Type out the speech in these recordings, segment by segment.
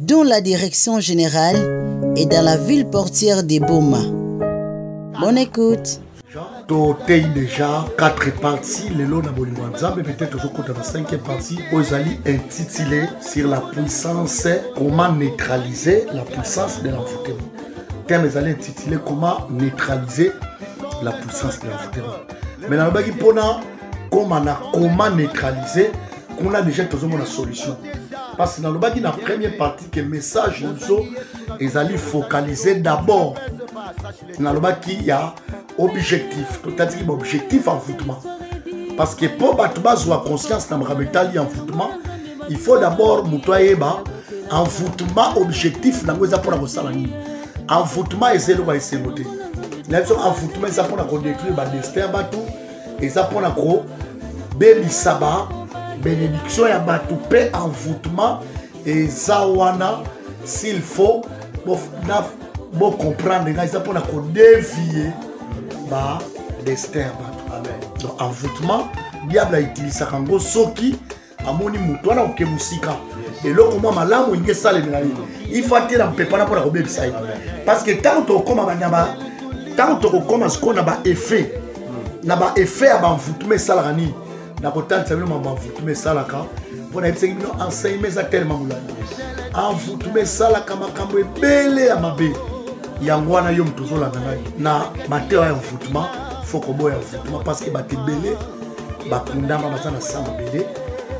dont la direction générale est dans la ville portière de Boma. Bonne écoute. totei déjà 4 parties lelo na bolingo ya nzambe peut-être tozokota na 5e partie oyo ezali intitulé sur la puissance comment neutraliser la puissance de l'envoûtement thème ezali intitulé comment neutraliser la puissance de l'envoûtement mais nalobaki mpona koma na comment neutraliser kuna deja tozomona solution parce que nalobaki na première partie que message na biso ezali focalise d'abord nalobaki ya objectif totatiki baobjectif envoûtement parce que mpo bato bazwa conscience na makambo etali envoûtement il faut d'abord moto ayeba envoûtement objectif nango eza mpona kosala nini envoûtement eza eloko ya esengo te na biso envoûtement eza mpona kodétruire badestin ya bato eza mpo na kobebisa ba benediction ya bato mpe envoûtement eza wana s'il faut bocomprendre ngai eza mpo na kodevie ba destin ya bato donc envoûtement diable autilisaka yango soki amoni moto wana oke mosika eloko mwa malamu elingi esalemela ye ifa te na mpepana mpo na kobebisa ye parceke ntango tokokoma banyama ntango tokokoma sikoyo na baeffet na baeffet ya banvutuma esalaka nini nakotalisa bino ma banvutuma esalaka mpo nayebisaki bino enseignement eza telema molandi envutuma esalaka makambo ebele ya mabe yango wana yo moto ozolanda nani na mateya ya envutuma fo koboya envutuma parceke bato ebele bakundama baza na sa mabele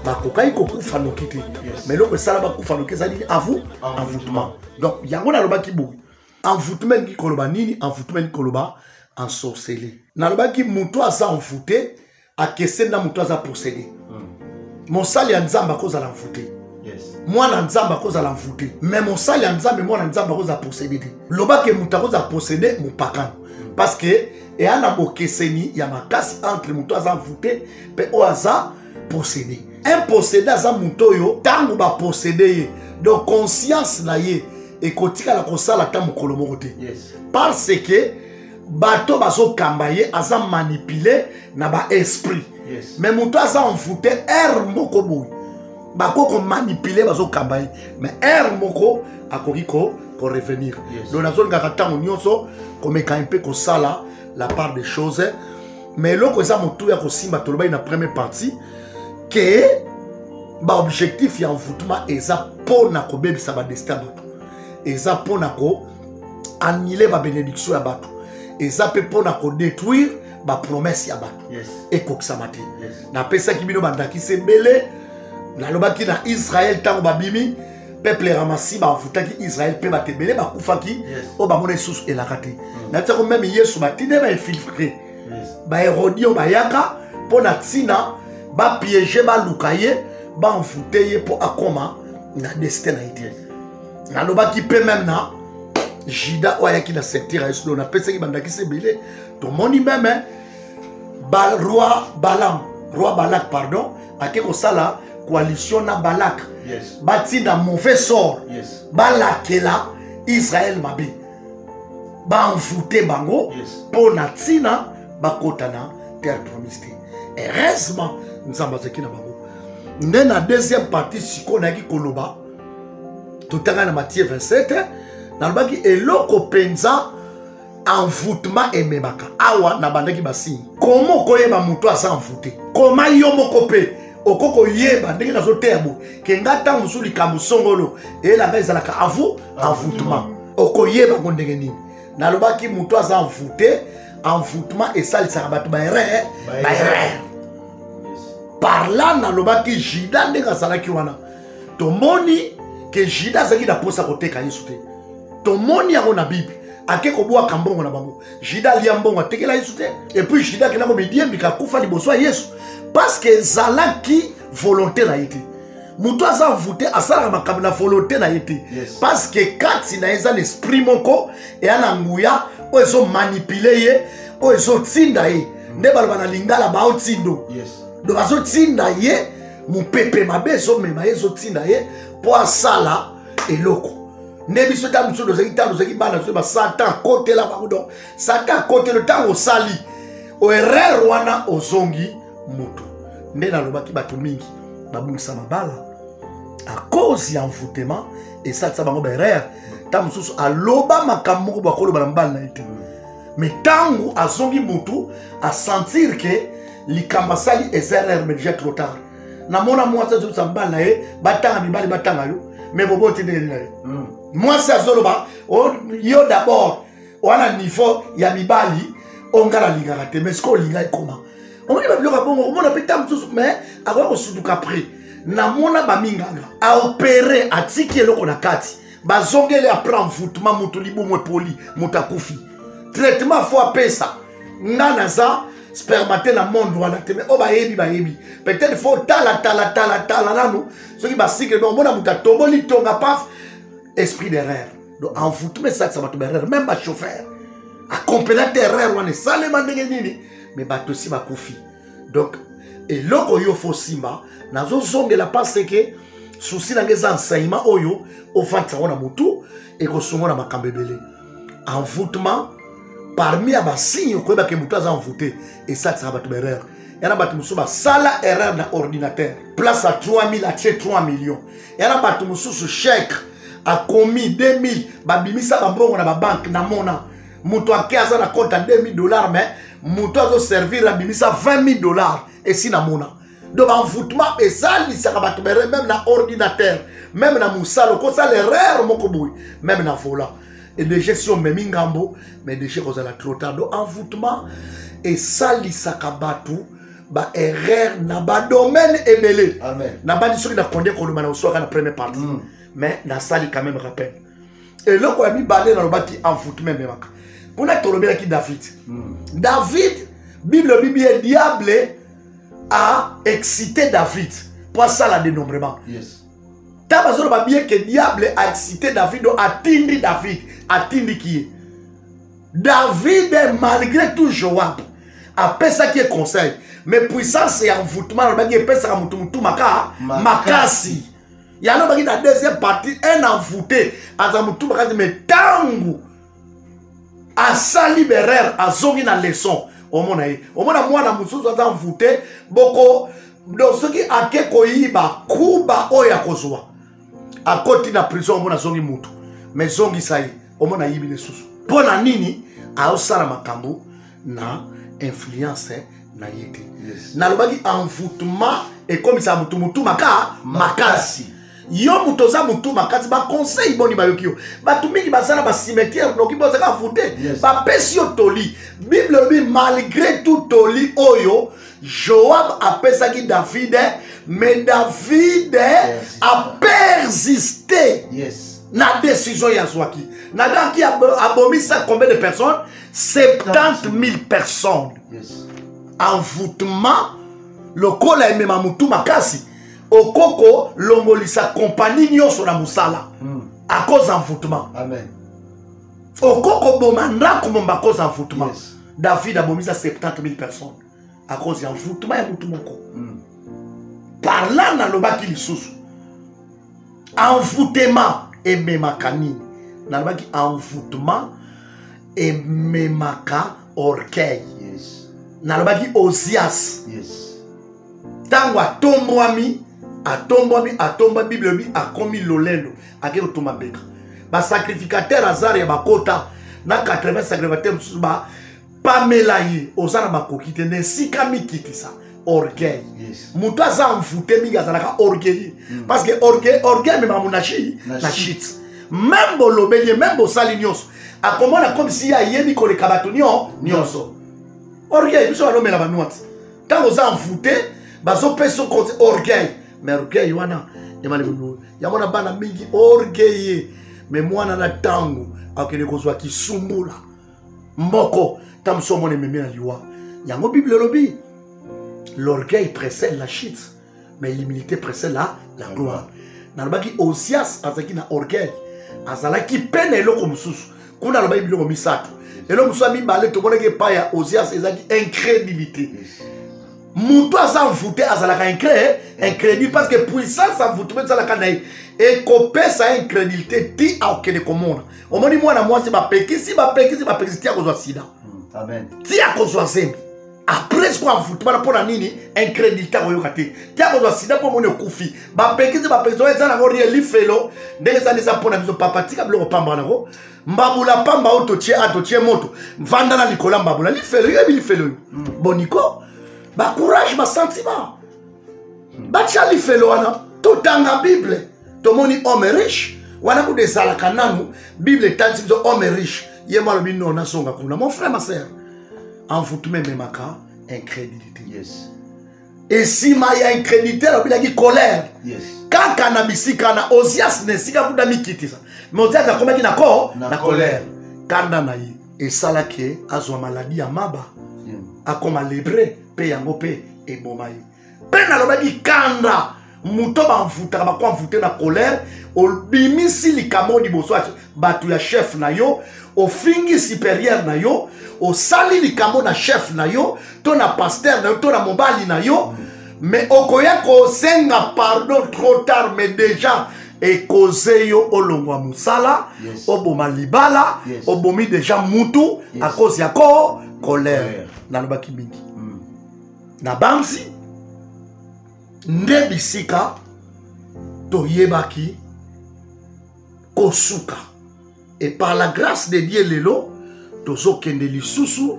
bakokaki kokufa noki te ma eloko esala bakufa noki ezali nini avu envoutement donc yango nalobaki boye envoutement elingi koloba nini envoutement elingi koloba ensorcele nalobaki moto aza envoute akeseni na moto aza posede hmm. mosali ya nzambe akozala envoute mwana nzambe akozala envoute me mosali ya nzambe mwana nzambe akozala posede te lobake moto akozala posede mopakano parce que eya na bokeseni ya makasi entre moto aza voute mpe oyo aza posede imposede aza moto oyo ntango baposede ye donc conscience na ye ekotikala kosala ata mokolo moko te yes. parce que bato bazokamba ye aza manipule na baesprit yes. me moto aza envoute ere moko boye bakoki komanipule bazokamba ye mais aire moko akoki korevenir ko yes. donc nazolingaka ntango nyonso komeka mpe kosala la part des choses mais eloko eza motu ya kosimba tolobaki na première partie ke baobjectif ya envoûtement eza mpo na kobebisa badestin ya bato eza mpo na ko annule babénédiction ya bato eza mpe mpo na kodétruire bapromese ya bato yes. ekokisama te yes. napesaki bino bandakisa ebele nalobaki na israel ntango babimi peuple ya ramasi bafutaki israel mpe bato ebele bakufaki yes. oyo bamona lisusu elaka te mm. na ntiako meme yesu batinde bainfiltre yes. baherodio bayaka mpo na ntina bapiege baluka ye banfute ye mpo akoma na destin na ye te yes. nalobaki mpe meme na juda oyo ayaki na secteur ya yesu do napesaki bandakisa ebele tomoni meme ba roi balam roi balak pardon ake kosala coalition na balak yes. batinda mauvais sort yes. balakela israel mabe baenvoute bango mpo yes. na ntina bakota na terre promise te heureusement nzambe azalaki na bango nde na deuxième partie sikoyo nayaki koloba totanga na matie 27 nalobaki eloko mpenza envoûtement ememaka awa nabandaki basigne koma okoyeba moto aza envoute koma yo moko mpe oko koyeba ndenge nazoteya bo ke nga ntango mosusu likambo songolo eyela ngai ezalaka avu envoûtement okoyeba ngo ndenge nini nalobaki moto aza envoute envoûtement esalisaka bato baerreur baerreur par là nalobaki juda ndenge azalaki wana tomoni ke juda azalaki na mposa koteka yesu te tomoni yango na bible ake kobwaka mbongo na bango jida alia mbongo atekela yesu te epuis jida akenda komidiembika akufa liboso ya yesu parceke ezalaki volonté na ye te moto aza voute asalaka makambo na volonté na ye te parceke kati na ye eza na esprit moko eya na nguya oyo ezomanipule ye oyo ezotinda ye nde baloba na lingala baotindo donc azotinda ye mopepe mabe ezomema ye ezotinda ye mpo asala eloko nde biso ntango mosusu tozalaki ntango tozalaki bana biso basatan akotela bango donc satan akotela ntango osali erreur wana ozongi moto nde nalobaki bato mingi babungisa mabala a cause ya envoutema esalisa bango baerreur ntango mosusu aloba makambo moko bakoloba na mobali na ye te me ntango azongi motu asentir ke likambo asali eza erreur mais déjà trop tard namona mwasi azobisa mobali na ye batanga mibali batanga yo me boboti ndenge nini na ye hmm. mwasi azoloba oh, yo dabord wana niveau ya mibali oyo ngai nalingaka te mais sikoyo olinga ekoma omoni babiloko ya bongo omona mpe ntango mosusu mais akoya kosutuka prix namona baminganga aopere atiki eloko na kati bazongeli apres envoûtement moto libumu epoli moto akufi traitement fo apesa nga naza spermate na monde wana te mai oyo bayebi bayebi peut-être fo tala tala tala tala nanu soki basikle donc omona moto atoboli tonga paf esprit d'erreur donc envoûtement esalisa bato baerreur meme bachauffeur akompela te erreur wana esalema ndenge nini mai bato esi bakufi donc eloko yo fo simba nazozongela parce que souci na ngai eza enseignement oyo ofandisa yango na motu ekosungo na makambo ebele envoûtement parmi ya basigne okoyeba ke motu aza envoûte esalisaka bato baerreur yana bato mosusu basala erreur na ordinateur place ya 3000 atie 3 million yana bato mosusu chèque akomi 2000 babimisa bambongo na babanke na mona moto ake aza na compte ya 2000 dollars mais moto azoservir abimisa 20000 dollars esi namona donc envoûtement esalisaka bato bere meme na ordinateur meme na mosala okosala erreur moko boye meme na volant edege si omemi ngambo mais dege kozala trop tard donc envoûtement esalisaka bato baerreur na badomaine ebele nabandi soki nakonde koloba na osuaka na première partie mm. mais nasali quand même rappel eloko ya mibale nalobaki envoutment ememaka kuna tolobelaki david hmm. david bible ebibi ye diable a excité david mpo asala dénombrement yes. ntango azoloba bie ke diable a excité david o atindi david atindiki ye david malgré tout joab apesaki ye conseil mais puissance ya envoutment alobaki epesaka moto motu maka makasi yango baki na deuxième partie un envoute aza motu makasi me ntango asali berere azongi na leçon omona ye omona mwana mosusu aza envoute boko donc soki ake koyiba kuba oyo akozwa akoti na prison omona azongi motu me zongisa ye omona ayibi lisusu mpo na nini aosala makambo na influence na ye te yes. nalobaki envoutement ekomisaka motu motu maka makasi yo moto oza motu makasi baconseil boni bayoki yo bato mingi baza na bacimetière noki bozaka voute yes. bapesi yo toli bible elobi malgré tout toli oyo joab apesaki davide mais davide yes. apersiste yes. na décision ye azwaki nadaki abomisa combien de personnes 70 000 personnes yes. envoûtement lokola emema motu makasi okoko longolisa kompani nyonso na mosala mm. à cause envoûtement amen okoko boma ndako momba à cause envoûtement yes. david abomisa 70 000 personnes à cause ya envoûtement ya motu moko mm. parla nalobaki lisusu envoutema ememaka nini nalobaki envoutema ememaka orgueil yes. nalobaki ozias ntango yes. atombwami atombwami atomba bible elobi akomi lolendo akei kotumba mbeka basacrificateur azar ya bakota na 80 sacrificateur mosusu ba pamela ye oza na makoki te na esika mikitisa orgueil yes. moto aza envoute mingi azalaka orgueilleux mm. parce que orgueil orgueil ememaka monashi na shit meme bolobeli ye meme bosali nyonso akomona comme si ye ayebi koleka bato nio nyonso orgueil biso balomela banwati ntango oza envoute bazopesa orgueil mais orgueil wana emalibulu yango na bana mingi orgueille mais mwana na ntango akende kozwa kisumbula moko ntango mosusu omona ememi na liwa yango bible elobi l'orgueil précède la chute mais l'humilité précède la, la gloire nalobaki osias azalaki na orgueil azalaki mpe na eloko mosusu kuna alobaki biloko misato eloko mosusu ya mibale tomonaki epai ya osias ezalaki incrédulité moto aza envoute azalaka incré incrédule parce que puissance envouteme ezalaka na ye ekopesa incrédulité ti akokende komona omoni mwana mwasi bapekisi bapekisi bapekisi ti akozwa sida hmm, ti akozwa zembi après sikoyo avuti bana mpo na nini incrédulité akoyoka te ti akozwa sida mpo omoni okufi bapekisi bapekisi oyo eza nango rie lifelo ndenge ezali eza mpo na biso papa tika biloko pamba wana ko mbabula pamba oyo totie a totie moto vanda na likolo ya mbabula lifelo yoyebi lifelo yo hmm. boniko bacourage basentiment batya lifelo wana totanga bible tomoni homme riche wana kuda ezalaka nanu bible etangi biso homme riche ye mo alobi no nazonga kuna mon frère ma sœur envoutment ememaka incrédulité yes. esima ya incrédulité alobelaki colère yes. kaka na bisika na osias na esika kuda mikitisa me osias akomaki na ko na, na colère kanda na ye esalaki azwa maladi ya maba mm. akoma lebre mpe yango mpe eboma ye mpe nalobaki kanda moto bamvutaka bakoamvute na kolere obimisi likambo liboso ya bato ya chef na yo ofingi superieur na yo osali likambo na chef na yo to na pasteur na yo to na mobali na yo me okoya kosenga pardon trop tard mais déjà ekoze yo olongwa mosala yes. oboma libala yes. obomi deja mutu yes. akozi yako kolere nalobaki mingi mm. nabanzi nde bisika toyebaki kosuka et par la grâce de dieu lelo tozokende lisusu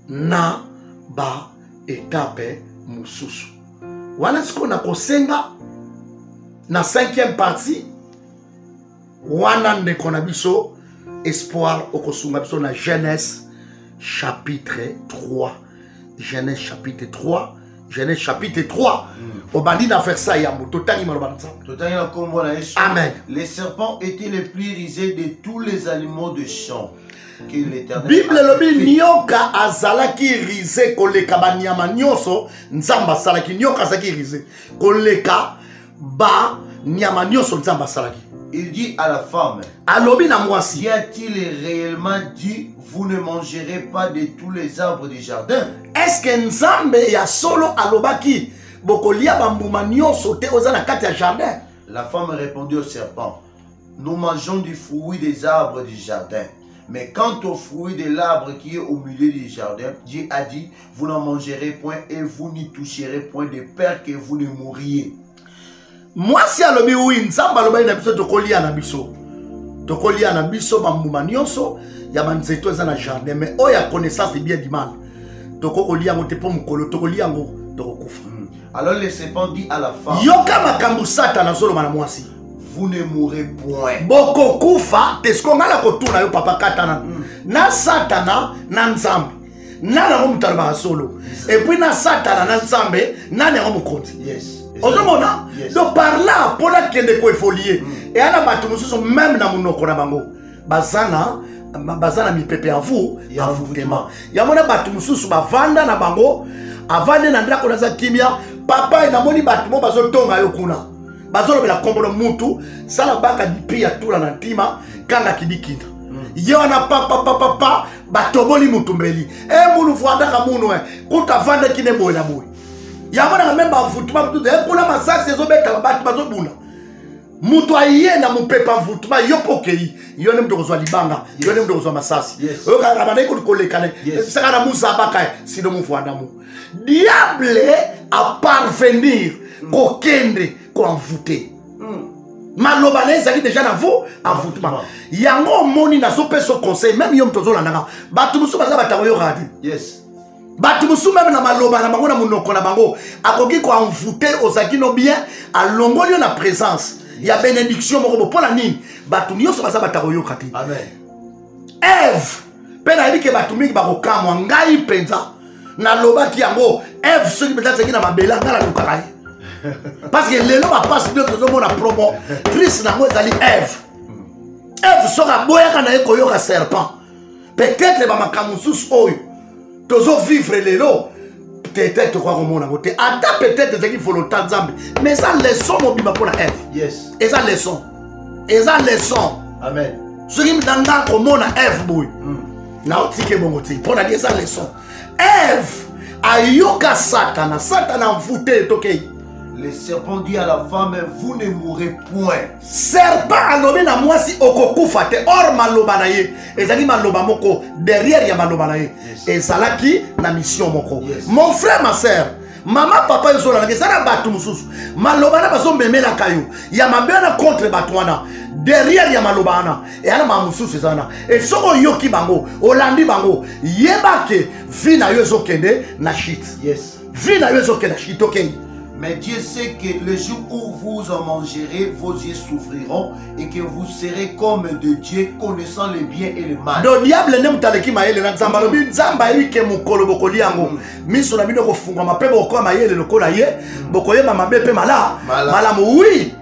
na baetape mosusu wana sikoyo nakosenga na cinquième partie wana ndeko na biso espoir okosunga biso na genèse chapitre 3 genèse chapitre 3 genèse chapitre 3 mm. obandi na versa yambo totangi maloba na nzambe totangi na nkombo na yesu amen les serpents étaient les plus risés de tous les animaux de champ bible elobi nioka azalaki rize koleka banyama nyonso nzambe asalaki nioka azalaki rize koleka ba nyama nionso nzambe asalaki il dit à la femme alobi na mwasi y a-t-il réellement dit vous ne mangerez pas de tous les arbres du jardin est-ce que nzambe ya solo alobaki bokolia bambuma nionso te oza na kati ya jardin la femme répondit au serpent Nous mangeons du fruit des arbres du jardin. Mais quant au fruit de l'arbre qui est au milieu du jardin, Dieu a dit, vous n'en mangerez point et vous n'y toucherez point de peur que vous ne mouriez. mwasi alobi wi nzambe alobaki na biso tokolia na biso tokolia na biso bambuma nyonso ya banzeto eza na jardin mais oyo ya connaissance bien du mal tokoki kolia yango te mpo mokolo tokolia yango tokokufa hmm. alors le serpent dit à la femme yoka makambo satana azoloba na mwasi vous ne mourrez point bokokufa te siko ngai nakotuna yo papa katana mm. na satana na nzambe nani yango moto alobaka solo epuis na satana na nzambe nani yango mokonzi yes. ozomona yes. donc par là mpo nakende koevolue mm. eya na bato mosusu meme na monoko na bango baza na baza na mipepe ya vu ya vutema yango na bato mosusu bavanda na bango avandi na ndako naza kimia papa namoni bato mo bazotonga yo kuna bazolobela nkombo na mutu sala baka dipi ya tula na ntima kanga kidikinda hmm. ye wana papapapapa batoboli mutumbeli e eh, munu vuandaka munu e kuta vandaki ne boye na boye yango nanga meme bavutuma mutu e eh, kuna masasi ezobetaka bato bazobunda moto aye na mopepe avutuma yo mpo okei yo nde moto okozwa libanga yo nde moto okozwa masasi oyokaka na bandaki kolekana saka na muzabaka sino movuandamu diable aparvenir mm. kokende koenvoute mm. maloba na ezali deja na vous envoutema yango omoni nazopesa conseil meme yo moto ozolandaka bato mosusu baza batango yo radio yes bato mosusu meme na maloba na bango na monoko na bango akoki koenvoute ozalaki no bien alongoli yo na présence ya benediction moko bo mpo na nini bato nyonso baza batakoyoka te eve mpe nayebi ke bato mingi bakokamwa ngai mpenza nalobaki yango eve soki mpenza azalaki na mabele ngai nalukaka ye parce que lelo bapasi nde tozomona promo trise nango ezali eve eve soki aboyaka na ye koyoka serpent peut-être bamakambo mosusu oyo tozo vivre lelo peut-être tokoka komona yango te ata peut-être ezalaki volonté ya nzambe mais eza leçon mobima mpo na eve yes. eza leçon eza leçon amen soki na nga komona eve boye mm. naotiki ebongo te mpo nani eza leçon eve ayoka satana satana envoute tokei le serpent dit à la femme vous ne mourrez point serpent alobi na mwasi okokufa te or maloba na ye ezali maloba moko derrière ya maloba na ye ezalaki na mission moko mon frère ma sœur mama papa ezolalaka eza na bato mosusu maloba na bazomemelaka yo ya mabe wana contre bato wana derrière ya maloba wana eyana maa mosusu eza wana e soki oyoki bango olandi bango yeba ke vi na yo ezokende na shite yes. vie na yo ezokenda kitokei Mais Dieu sait que le jour où vous en mangerez, vos yeux s'ouvriront et que vous serez comme de Dieu, connaissant le bien et le mal. Donc diable nde moto aleki mayele na nzambe alobi mm. nzambe ayebi ke mokolo bokolia yango mm. miso na bino ekofungwama mpe bokokoka mayele lokola ye mm. bokoyeba mabe mpe mala malamu wi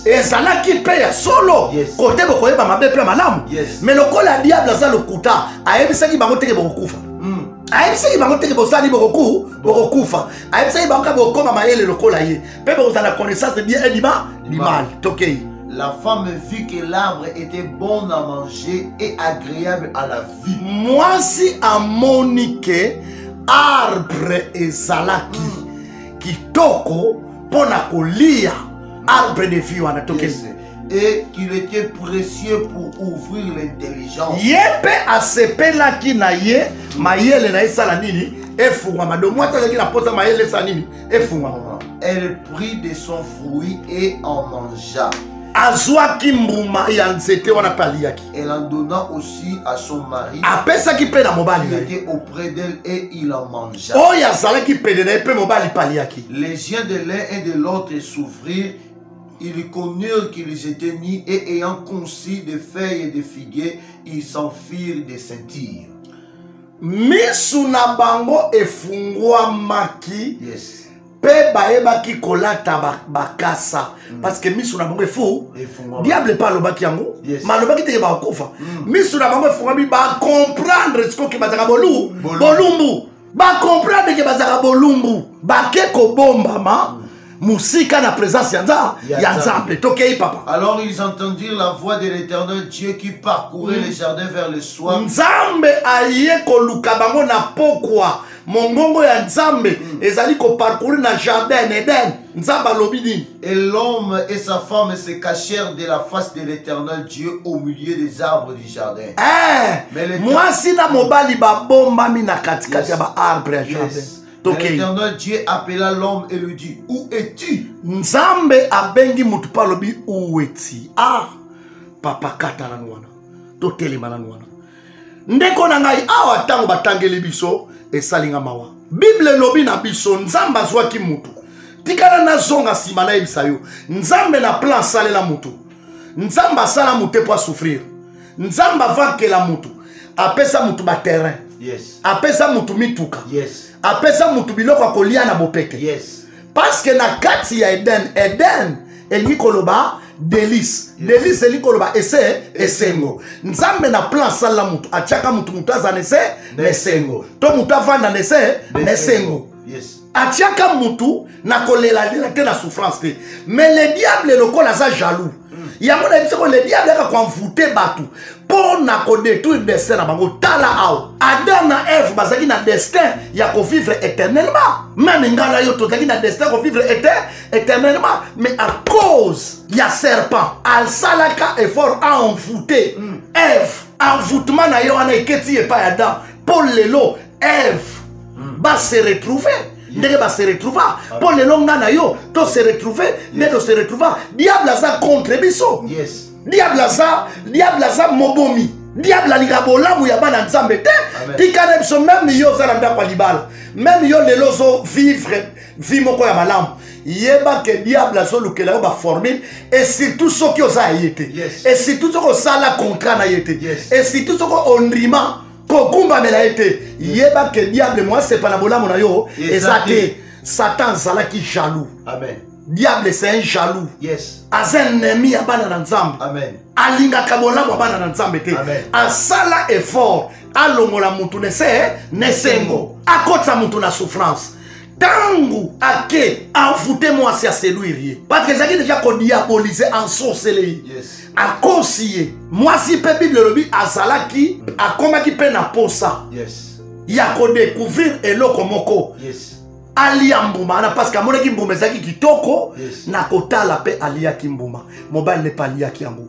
ezalaki mpe ya solo kote bokoyeba mabe mpe ya malamu me lokola diable aza lokuta ayebisaki bango teke bokokufa hmm. ayebisaki bango teke bosali bokoku bokokufa ayebisaki bango kaka bokokoma mayele lokola ye mpe bokozala connaissance bien edima limal tokei La femme vit que l'arbre était bon à manger et agréable à la vue. Mwasi amoni ke arbre ezalaki hmm. kitoko mpo na kolia arbre de vie wana tokende et qu'il était précieux pour ouvrir l'intelligence. ye mpe asepelaki na ye mayele na ye esala nini efungwama do mwasi azalaki na mposa mayele esala nini efungwama Elle prit de son fruit et en mangea. azwaki mbuma ya nzete wana mpe aliyaki Elle en donna aussi à son mari. apesaki mpe na mobali Il na ye était auprès d'elle et il en mangea. oyo azalaki pene na ye mpe mobali paliaki Les yeux de l'un et de l'autre s'ouvrirent. Ils connurent qu'ils étaient nus et ayant conçu des feuilles et des figuiers, ils s'en firent des ceintures. misu na bango efungwamaki Yes. mpe bayebaki kolata bakasa ba mm. parce que miso na bango efu diable mpe alobaki yango yes. ma alobaki teke bakokufa mm. miso na bango efungami bacomprendre sikoke bazaka bolu bolumbu bacomprendre ke bazaka bolumbu bake kobombama mm. mosika na présence ya nza ya nzambe tokei papa alors ils entendirent la voix de l'éternel dieu qui parcourait mm. le jardin vers le soir nzambe aye koluka bango na pokwa mongongo ya nzambe mm. ezali koparcourir na jardin eden nzambe alobi nini et l'homme et sa femme se cachèrent de la face de l'éternel dieu au milieu des arbres du jardin eh, mwasi na mobali babombami na katikati ya baarbre ya jardin yes. Okay. L'éternel Dieu appela l'homme et lui dit Où es-tu Nzambe abengi mutu pa lobi où es-tu Ah papa kata nanu wana totelema nanu wana ndeko na ngai awa ntango batangeli biso esali nga mawa bible elobi na biso nzambe azwaki motu tikala nazonga nsima nayebisa yo nzambe na plan asalela motu nzambe asala motu te mpo asouffrir nzambe avankela motu apesa motu baterrain yes. apesa motu mituka yes. apesa motu biloko ya kolia na bopete yes. parce que na kati ya eden eden elingi koloba delice delice elingi koloba ese esengo nzambe na plan asalela motu atiaka motu motu aza na ese na esengo to motu avanda na ese na esengo atiaka motu na kolelalela te na souffrance te mais le diable lokola aza jaloux yango na biso ko le diable aka koenvoute bato mpo na kodetruire destin na bango tala awa adam na eve bazalaki na destin ya kovivre éternellement meme ngai na yo tozalaki na destin ya kovivre ete éternellement mais à cause ya serpent asalaka effort aenvoute mm. eve envoûtement na ye wana eketi epai adam mpo lelo eve mm. base retrouver ndenge ba se retrouva mpo lelo nga na yo to se retrouve nde to se retrouva diable aza contre biso diable aza diable aza mobomi diable alinga bolamu ya bana nzambe te tika na biso meme yo oza na ndako ya libala meme yo lelo ozo vivre vie moko ya malamu yeba ke diable azolukela yo baformule e surtout soki oza ya ye te e surtout soki osala contrat na ye te e surtout soki ondima kokumbamela ye te yeba ke diable moasepa na bolamu na yo eza te satan azalaki jaloux Amen. diable c'est un jaloux yes. aza ennemi ya bana na nzambe alingaka bolamu ya bana na nzambe te asala effort alongola motu nese nesengo akotisa motu na souffrance ntango ake envoute mwasi ya seluire ye parce que ezalaki deja kodiabolise ensorcele ye yes. akosi ye mwasi mpe bible elobi azalaki akomaki mpe na posa yes. ya kodecouvrir eloko moko yes. alia mbuma wana parceke amonaki mbuma ezalaki kitoko yes. na kotala mpe aliaki mbuma mobali ne mpe aliaki yango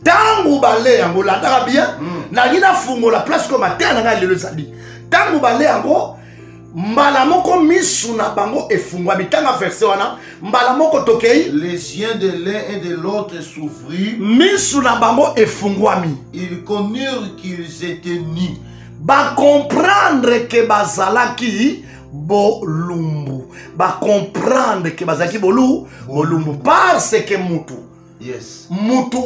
ntango bale yango landaka bien mm. nalingi nafungola place ko mateya na ngai lelo ezali ntango bale yango mbala moko misu na bango efungwami tanga verse wana mbala moko tokei les yeux de l'un et de l'autre s'ouvrir misu na bango efungwami ils connurent qu'ils étaient nus bacomprendre ke bazalaki bolumbu bacomprendre ke bazalaki bolu bolumbu parce ke mutu yes. mutu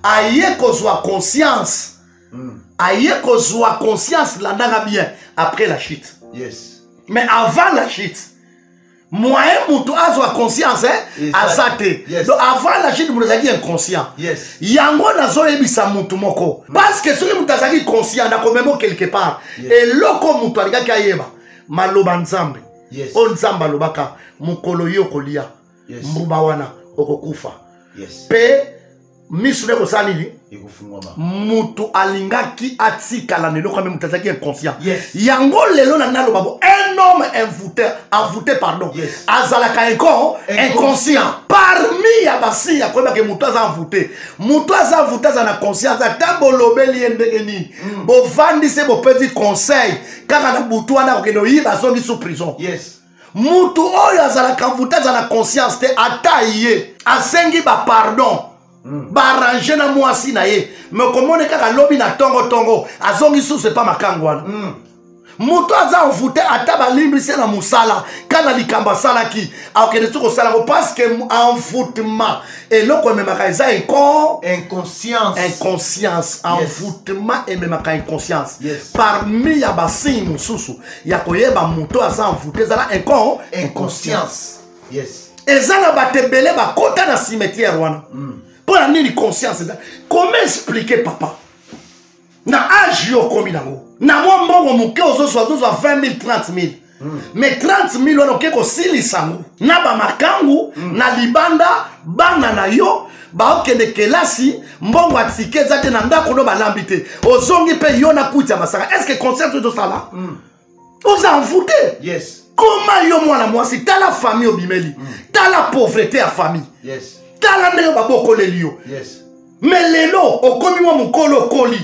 aye kozwa conscience mm. aye kozwa conscience landaka bien après la chute yes. mais avant la chute moyen moto azwa conscience eh? yes, aza te yes. donc avant la chute moto azalaki inconscient yes. yango nazoyebisa moto moko mm. parce que soki moto azalaki conscient nakomemo quelque part yes. eloko moto alingaki ayeba maloba nzambe yes. oyo nzambe alobaka mokolo yo kolia yes. mbuba wana okokufa yes. pe misu nde kosala nini mutu alingaki atikala na eloko ame moto azalaki inconscient yes. yango lelo na naloba bo un homme envoute envoute pardon yes. azalaka eko inconscient parmi ya basi ya koyebaka moto aza envoute moto aza envoute aza na conscience ata bolobeli ye ndenge nini mm. bovandi se bopesi conseil kaka na butu wana akokende oyiba azongi sous prison yes. mutu oyo azalaka mvuta aza na conscience te ata ye asengi bapardon hmm. baarrange na mwasi na ye me okomoni kaka lobi na tongotongo azongi susu epa makango wana hmm. moto aza envoute ata balimbisi na mosala kana likambo asalaki akokende soki kosala yango parceke envoutement eloko ememaka eza inco inconscience inconscience envoutement yes. ememaka inconscience yes. parmi ya basigne mosusu ya koyeba moto aza envoute ezala incon inconscience yes eza na bato ebele bakota na cimetière wana mm. mpo na nini conscience eza comment expliquer papa na age yo okomi nango na mwa mbongo moke ozozwa ozozwa 20 000 30 000 Mm. me 30 000 wana oke kosilisa yango na bamakangu mm. na libanda bana na yo baokende kelasi mbongo ya tike eza te na ndako no balambi te ozongi mpe yo na kuti ya masaka est ce que concert oyo tosala mm. oza envoute yes. koma yo mwana mwasi tala famille obimeli mm. tala pauvrete ya famille yes. tala ndenge babokoleli yo yes. me lelo okomi mwa mokolo okoli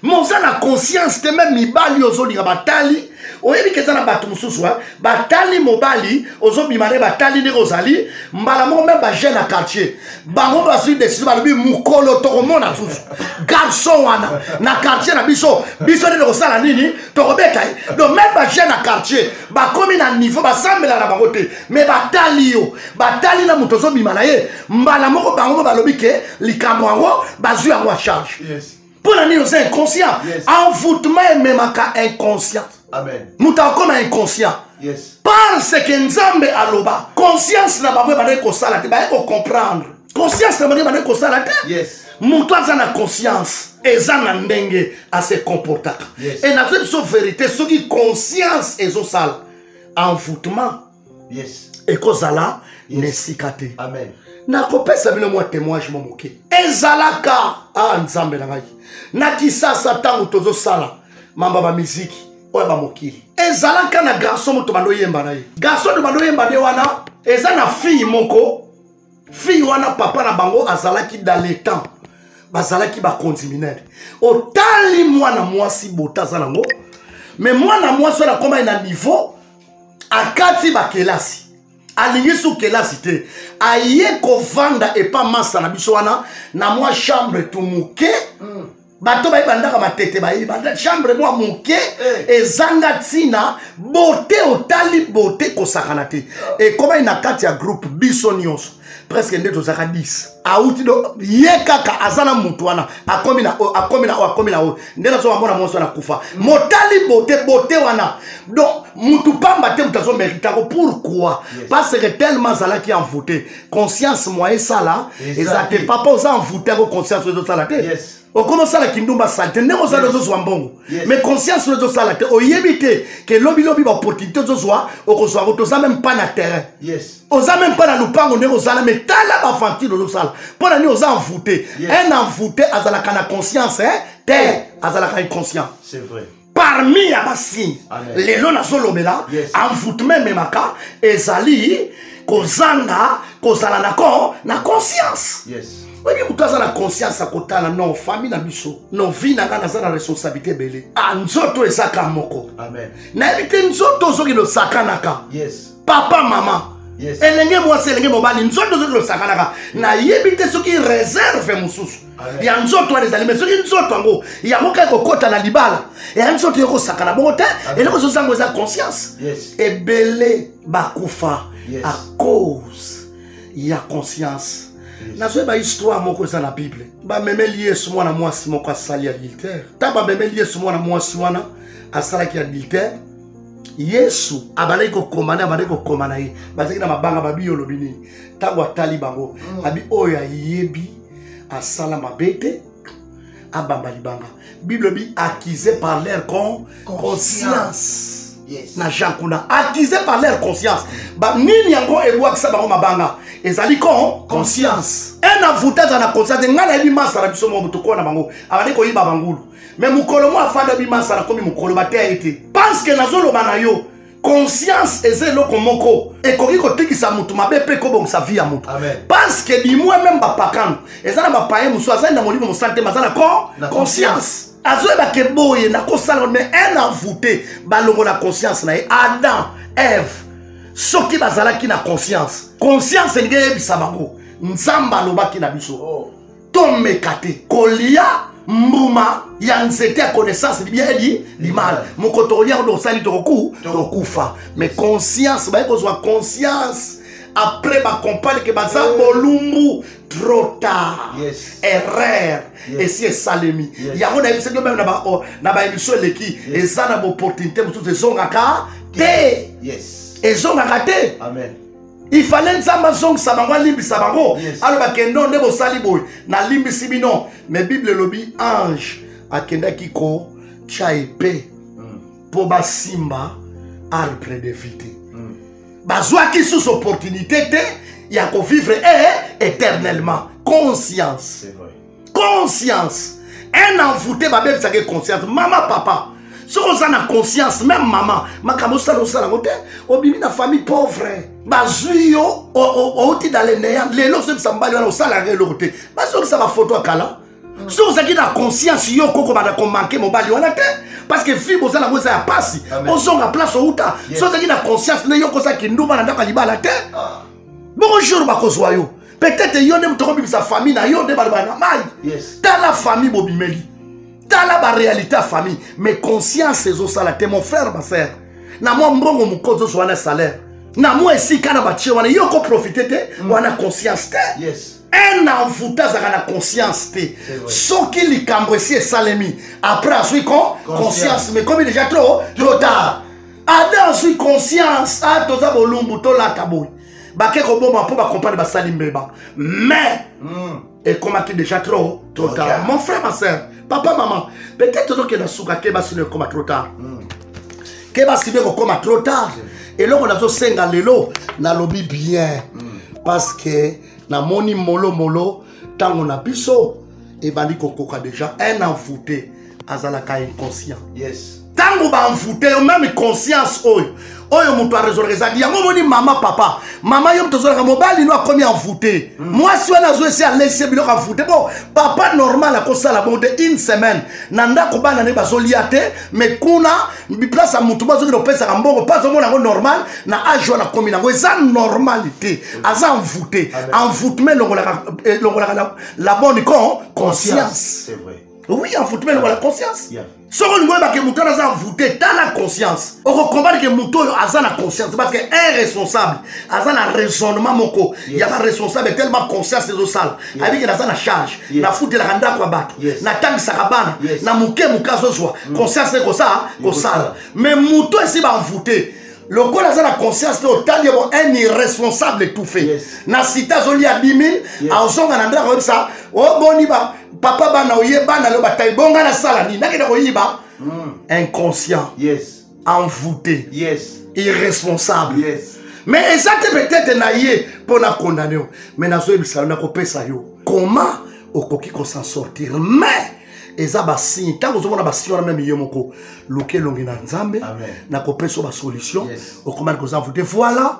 me oza na conscience te meme mibali ozolinga batali oyebi ke eza na bato mosusu batali mobali ozobima nde batali ndenge ozali mbala moko meme bajeune ya quartier bango bazwi deside balobi mokolo tokomona susu garçon wana na quartier na biso biso nde tokosala nini tokobeta ye donc meme bajeune ya quartier bakomi na niveau basambela na bango te mais batali yo batali na moto ozobima na ye mbala moko bango mo balobi ke likambo yango bazwi yango ya charge yes. mpo na nini oza inconscient envoûtement ememaka inconscient moto akoma inconscient parce que nzambe aloba conscience na bango ebandaki kosala te baye kocomprendre conscience na bango ebandaki kosala te moto aza na conscience eza na ndenge ase comportaka e nazo biso verité soki conscience ezosala envoûtement yes. ekozala yes. na esika te nakopesa bino mwa témoignage mwa moke ezalaka a ah, nzambe na ngai na kisasa ntango tozosala mamba bamiziki oyo ya bamokili ezalaka na garçon moto bandoyemba na ye garçon to bandoyemba nde wana eza na fille moko fille wana papa na bango azalaki dans le temps bazalaki bakonzi minene otali mwana mwasi bota aza nango me mwana mwasi wana akomaki na niveau akati bakelasi alingi su kelasi te aye kovanda epa masa na biso wana na mwa chambre tumuke mm. bato baye bandaka matete baye banda chambre mwa moke eh. ezanga ntina bote otali bote kosakana te ah. ekomai na kati ya groupe biso nyonso presque nde tozaka 10 auti do ye kaka aza na motu wana akomi na oyo akomi na oyo akomi na oyo nde nazoka mona mwonso wana kufa motali bote bote wana donc motu pamba te motu azomeritako pourquoi parce que tellement azalaki envoute conscience moyen esala eza te papa oza envoute yango conscience oyo ezosala te okomi osala kindumba sale te ndenge ozali ozozwa mbongo mais conscience oyo ezosala te oyebi te ke lobilobi baopportunité ozozwa okozwa yango toza meme pas na terrain oza meme pas na lopango ndenge ozala mais tala baventure ozosala mpo na nini oza envoute un envoute azalaka na conscience te azalaka inconscient parmi ya basigne lelo nazolobela yes. envoutment ememaka ezali kozanga kozala na ko na conscience yes. oyebi moto aza na conscience ya kotala no famille na biso no vie na ngai naza na responsabilité ebele a ah, nzoto ezaka moko nayebi te nzoto ozoki losakanaka yes. papa mama yes. elenge mwasi elenge mobali nzoto ozoki losakanaka nayebi te soki reserve mosusu ya nzoto wana ezali me soki nzoto yango yango kaka kokota na libala ya nzoto yokosakana bongo te eloko ezozango eza conscience ebele bakufa à cause ya conscience nazoyeba histoire moko eza na bible bamemeli yesu mwana mwasi moko asali adultère ntango bamemeli yesu mwana mwasi wana asalaki adultère yesu abandaki kokoma nde abandaki kokoma na ye bazalaki na mabanga babi olobi nini ntango atali bango mm. abi oyo ayebi asala mabe te abamba libanga bible bi accusé par leur con conscience yes. na jean kuna accusé par leur conscience banini yango ebwakisa bango mabanga ezali con conscience un avoute aza na conscience te ngai nayebi masa na biso moko tokola na bango abandi koyiba bangulu me mokolo moko afanda bi masa nakomi mokolo bateya ye te parce que nazoloba na yo conscience eza eloko moko ekoki kotikisa motu mabe mpe ekobongisa vie ya motu parce que dimoi meme bapakano eza na bapaye mosusu azali na molimo mosali te maza na corps conscience azoyeba ke boye nakosala me un avoute balongola conscience na ye adam eve soki bazalaki na conscience conscience elingi eyebisa bango nzambe alobaki na biso oh. tomeka te kolia mbuma ya nzete ya connaissance libia edi limala moko tokolia kundo osali tokoku tokufa mais conscience baye kozwa conscience après bacompane ke baza eh. bolumbu trop tard yes. erreur yes. esi esalemi yes. yango nayebisaki yo meme na baémission eleki yes. eza na baopportunité mosusu ezongaka te yes. ezongaka te Amen. il fallait nzambe azongisa bango alimbisa bango yes. aloba kendo nde bosali boye nalimbisi bino mais bible elobi ange akendaki kotya epe mpo mm. basimba arbre de vie te mm. bazwaki susu opportunité te ya kovivre e eh, eh, éternellement conscience conscience un envoute babebisaka ye conscience mama papa soki oza na conscience meme mama makambo osala osala yango te obimi na famille pauvre bazwi yo outi na leneya lelo ozobisa mobali wana osala yango eloko te bazongisa bafoto ya kala mm. soki ozalaki na conscience yo kokobanda komanke mobali wana te parce que vie boza nango eza ya mpasi ozonga place outa soki ozalaki na conscience nde yo koza kindumba na ndako ya libala te ah. bongo jour bakozwa yo peut-être yo nde moto okobimisa famille na yo nde baloba na mai yes. tala famille bobimeli tala baréalité ya famille mais conscience ezosala te mon frère ma frère na mwa mbongo moko ozozwa na salaire na mwa esika na batie wana yo okoprofite te mm. wana conscience te yes. un envoute azalaka na conscience te soki likambo esi esalemi après azwi con conscience mais komi déjà trop trop tard ada azwi conscience a ah, toza bolumbu tolata boye bake koboma mpo bacompane basali mbeba mais mm. ekomaki déjà trop trop tard okay. mon frère ma sœur papa maman peut-être tozokenda suka ke basi no ekoma trop tard mm. ke basi no ekokoma trop tard eloko nazosenga lelo nalobi bien mm. parce que namoni molomolo ntango na biso ebandi kokoka déjà un envoute azalaka inconscient yes ntango baenvoute yo meme conscience oyo oyo moto aresolaka ezalaki yango omoni mama papa mama yo moto ozolaka mobali no akomi envoute mm. mwasi wana azo esi alesi biloko envoute bo papa normal akosala bongo te une semaine na ndako bana nde bazolia te mais kuna place ya motu bazokende kopesaka mbongo mpo azomona yango normal na age wana akomi nango eza normal te aza envoute envoutement elongolaka eh, la bonne con conscience oui envoutement elongola conscience soki olingi oyebake motu wana aza envoute tala conscience okokombane ke motu oyo aza na conscience parce que un responsable aza na raisonnement moko ya baresponsable tellement conscience ezosala ayebike naza na charge nafutelaka ndako ya bato natangisaka bana na moke moke azozwa mm. conscience ekosaa kosala mais moto esi banvoute lokola aza na conscience te otali yango un irresponsable étouffé yes. na site azolia 10 000 yes. azonga na ndako oyebisa oboni oh, papa bana oye bana lo batai bonga nasala nini nakende koyiba mm. inconscient yes. envoûté yes irresponsable yes mais eza te peut-être na ye mpo na condamne yo mais nazoyebisa yo nakopesa yo comment okoki kosan sortir mais eza basigne ntango ozomona basigne wana meme ye moko luka elongi na nzambe nakopesa yo basolution yes. okomaki koza envoûté voilà